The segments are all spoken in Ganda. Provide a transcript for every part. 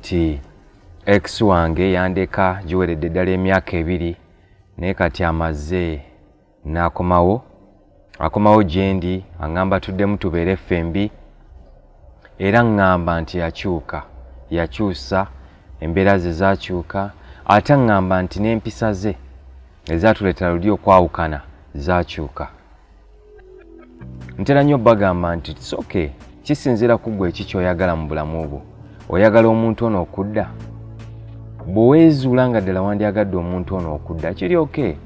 nti ex wange yandeka giweredde ddala emyaka ebiri naye kati amaze n'akomawo akomawo gyendi aŋŋamba tuddemu tubeere ffembi era ŋŋamba nti yakyuka yakyusa embeera ze zakyuka ate aŋŋamba nti n'empisa ze ezatuleetera luli okwawukana zakyuka ntera nnyo bagamba nti it's okay kisinziira ku ggwe eki kyoyagala mu bulamu bwo oyagala omuntu ono okudda bweweezuula nga ddala wandyagadde omuntu ono okudda kiri oke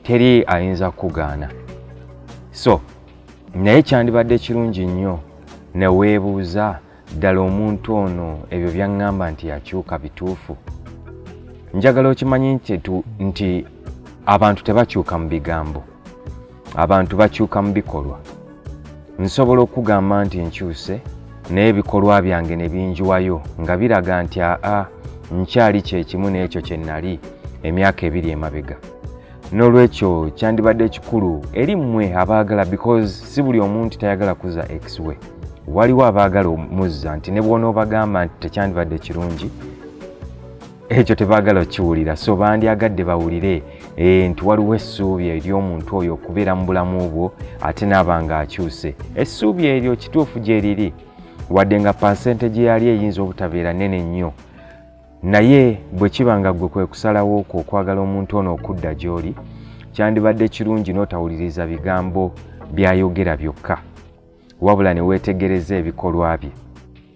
teri ayinza kukugaana so naye kyandibadde kirungi nnyo neweebuuza ddala omuntu ono ebyo byaŋŋamba nti yakyuka bituufu njagala okimanyi nti abantu tebakyuka mu bigambo abantu bakyuka mu bikolwa nsobola okugamba nti nkyuse naye ebikolwa byange ne binjiwayo nga biraga nti aa nkyali kyekimu n'ekyo kye nnali emyaka ebiri emabega n'olwekyo kyandibadde kikulu eri mmwe abaagala because si buli omuntu tayagala kuza ex we waliwo abaagala omuzza nti ne bwonoobagamba nti tekyandibadde kirungi ekyo tebaagala okiwulira so bandyagadde bawulire eh, nti waliwo essuubi ery'omuntu oyo okubeera mu bulamu bwo ate naaba nga akyuse essuubi eryo kituufu gye riri wadde nga pansente gye yali eyinza obutabeera nene nnyo Naye bwe kiba nga ggwe kwe kusalawo okwo okwagala omuntu ono okudda gy'oli, kyandibadde kirungi n'otawuliriza bigambo by'ayogera byokka, wabula ne weetegereza ebikolwa bye.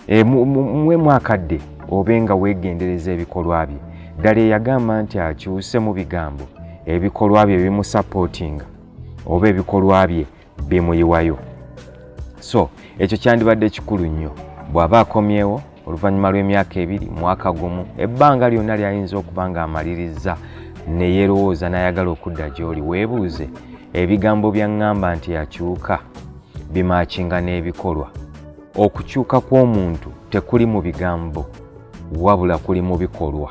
E, mwe mwakadde obe nga weegendereza ebikolwa bye. Ddala eyagamba nti akyuse mu bigambo, ebikolwa bye bimusapootinga oba ebikolwa bye bimuyiwayo so ekyo kyandibadde kikulu nnyo bw'aba akomyewo oluvannyuma lw'emyaka ebiri mwaka gumu ebbanga lyonna lyayinza okuba ng'amalirizza ne yeerowooza n'ayagala okudda gy'oli weebuuze ebigambo byaŋŋamba nti akyuka bimaakinga n'ebikolwa okukyuka kw'omuntu tekuli mu bigambo wabula kuli mu bikolwa